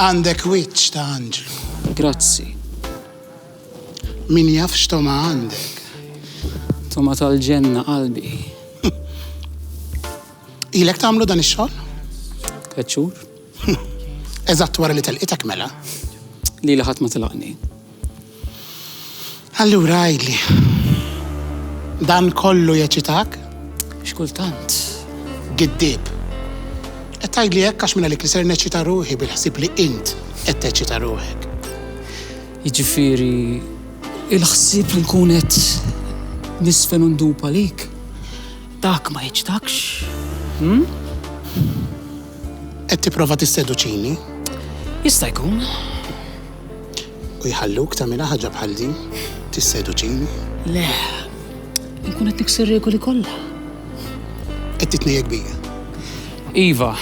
Għandek wiċċ ta' anġlu. Grazzi. Min jaf x'togħma għandek. Togħma tal-ġenna qalbi. Ilek tagħmlu dan ix-xogħol? Tleċċur. Eżatt wara li telqitek mela. Li laħat ma tilaqni. Allura għidli, dan kollu jeċitak? Xi kultant. Giddieb. Qed tgħidli hekk għax minn għalik li ser neċċita ruħi bil-ħsieb li int qed teċċita ruħek. Jiġifieri il-ħsieb li nkun qed nisfen u ndub għalik, dak ma jeċċitakx? Qed tipprova tisseduċini? Jista' jkun. u jħalluk tagħmilha ħaġa bħal din? Tisseduċini? Le, inkun qed nikser regoli kollha. Qed titnejjek bija. Iva,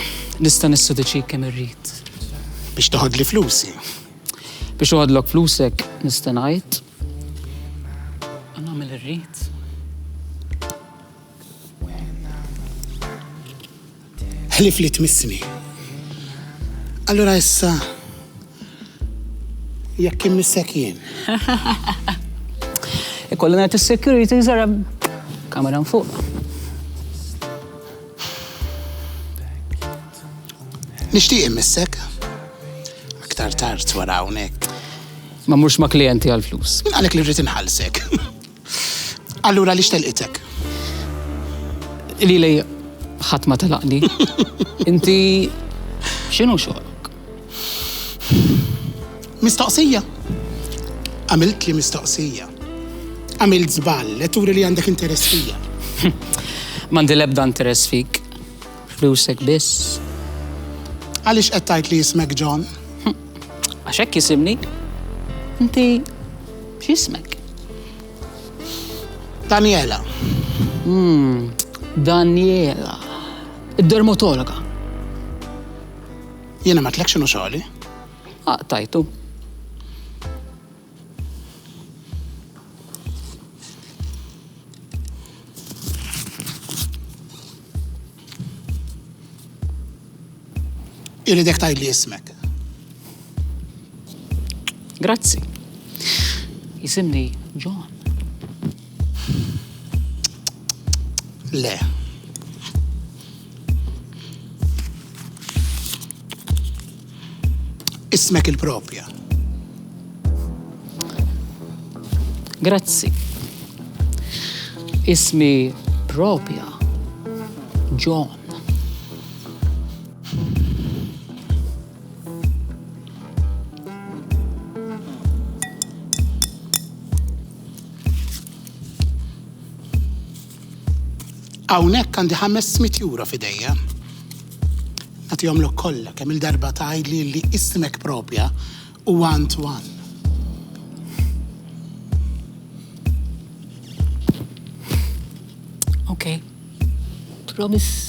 nista' nisseduċik kemm irrid. Biex toħodli flusi. Biex uħodlok flusek nista' ngħid. Nagħmel irrid. Ħlief li tmissni. Allura issa jekk immissek jien. Ikollu ngħid is-security żara kamera fuq. Nixtieq immissek. Aktar tard wara hawnhekk. Ma mhux ma' klijenti għall-flus. Għalhekk li rrid inħallsek. Allura li xtelqitek? Li li ħadd ma telaqni. Inti x'inhu xogħlok? Mistoqsija. Għamilt li mistoqsija. Għamilt żball, qed turi li għandek interess fija. M'għandi l-ebda interess fik. Flusek biss. Għaliex qed tgħid li jismek John? Għax hekk jisimni. Inti x'ismek? Daniela. Hmm, Daniela. Id-dermatologa. Jiena ma tlekx xogħli. Aqtajtu. Ah, Iridek tajli ismek. Grazzi. Jisimni John. Le. Ismek il-propja. Grazzi. Ismi propja John. Hawnhekk għandi ħames mitt euro f'idejja. Nagħtihomlok kollha kemm il-darba tgħidli li ismek proprja huwa Antoine. Okay. Promise.